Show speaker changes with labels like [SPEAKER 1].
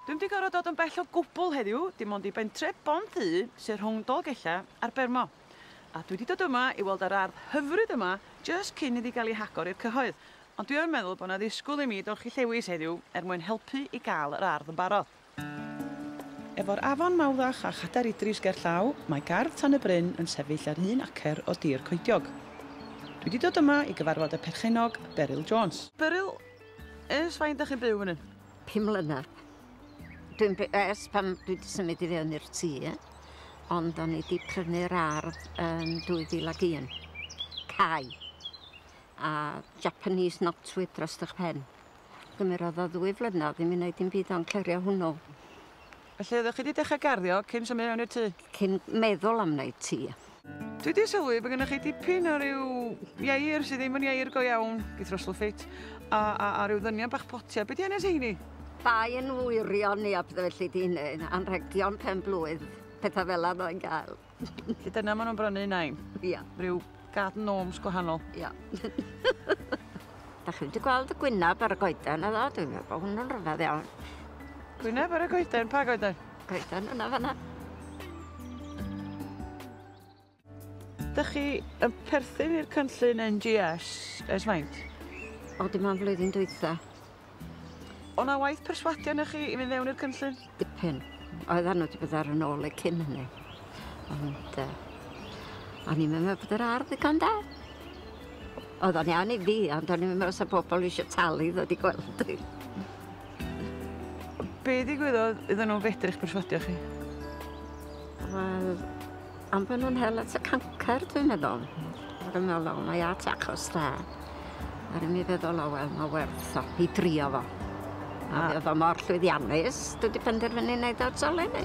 [SPEAKER 1] Dwi'm 'di gorfod dod yn bell o gwbwl heddiw, dim ond i bentref Bont-y sy rhwng Dolgellau a'r Bermo. A dwi 'di dod yma i weld yr ardd hyfryd yma jyst cyn iddi gael ei hagor i'r cyhoedd. Ond dwi yn meddwl bod 'na ddisgwyl i mi dorchi llewis heddiw er mwyn helpu i gael yr ardd yn barod. Efo'r afon Mawddach a Chadar Idris gerllaw, mae gardd Tan y Bryn yn sefyll ar un acer o dir coediog. Dwi 'di dod yma i gyfarfod y perchennog, Beryl Jones. Beryl, ers faint 'da chi'n byw fan hyn? Pum mlynedd.
[SPEAKER 2] Dwi'n by- yy ers pan dwi 'di symud i fewn i'r tŷ ond o'n i 'di prynu'r ardd yn 2001. Cau. A Japanese knotweed drost 'ych pen. Gymerodd o ddwy flynedd i mi neud dim byd on' clirio hwnnw. Felly
[SPEAKER 1] oeddech chi 'di dechra garddio cyn symud mewn i'r tŷ? Cyn meddwl
[SPEAKER 2] am wneud tŷ. Dwi 'di sylwi
[SPEAKER 1] bo' gynnoch chi dipyn o ryw ieir sy ddim yn ieir go iawn, geith Russell ffit, a a a ryw ddynion bach potia, be' 'di enw rheini? Bai yn
[SPEAKER 2] wirion ni a petha felly 'di hynny, anrhegion pen-blwydd, petha fela fyddai'n gael. Felly dyna maen
[SPEAKER 1] nhw'n brynu un ein. Ia. Rhyw
[SPEAKER 2] garden
[SPEAKER 1] gnomes gwahanol. Ia.
[SPEAKER 2] Da chi wedi gweld y gwynaf ar y goeden yna, dwi'n meddwl bod hwnnw'n rhyfedd iawn. Gwynaf
[SPEAKER 1] ar y goeden, pa goeden? Goeden yna fanna. Da chi yn perthyn i'r cynllun NGS ers maint? O, dim ond
[SPEAKER 2] flwyddyn dwytha.
[SPEAKER 1] O na waith perswadio na chi i fynd mewn i'r cynllun? Dipyn.
[SPEAKER 2] Oedd arno ti bod ar yn ôl y cyn hynny. Ond, uh, o'n i'n meddwl bod yr ardd y gan da. Oedd o'n iawn i fi, ond o'n i'n meddwl sa pobl eisiau talu ddod i gweld i.
[SPEAKER 1] Be digwyddodd iddyn nhw fedru'ch perswadio chi?
[SPEAKER 2] Wel, Am bo' nw'n hel at y cancer dwi'n meddwl. Ac yn me'wl o mae at achos da. A ro'n i feddwl o wel ma' werth o i drio fo. A mi o'dd o mor llwyddiannus dwi 'di penderfynu neud o eto leni.